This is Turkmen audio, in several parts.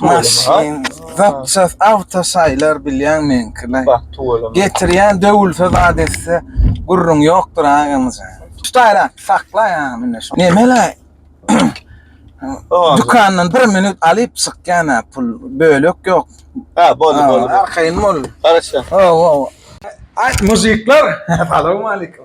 Maşyn, zapçast, awtosaýlar bilýän meňkiler. Bak, tuweleme. Getirýän döwülse zat etse, gürrüň ýokdur agamyza. Tutaýra, sakla ýa mine şu. Nemele? Dükandan bir minut alyp çykýana pul, bölek ýok. Ha, boldy, boldy. Arkaýyn bol. Garaşýan. Hawa, hawa. Aý, muzikler, salowmalikim.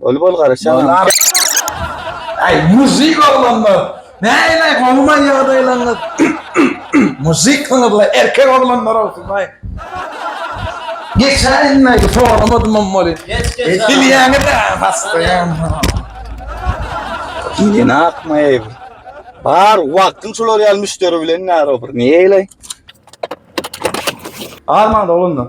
Öli bol garaşýan. Ay muzik oglanlar näleý gowmy ýagdaýlaryňyz muzyklyňyzla erkek oglanlar ogsyzlaýyn. Geçen ýylky soramadymam weli bilýäňizä hassaýan. Ýene akmaýaý bu. Bar wagtyň şular ýaly müşderi bilen näre bir näleý. Armaň oglanlar.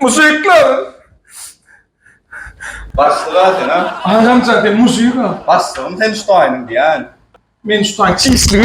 Mujikler! Başlyga sen a? Aýranjak sen mujik a? Başlygym sen şu taýynyň diýän. Men şu taýyň çişligi.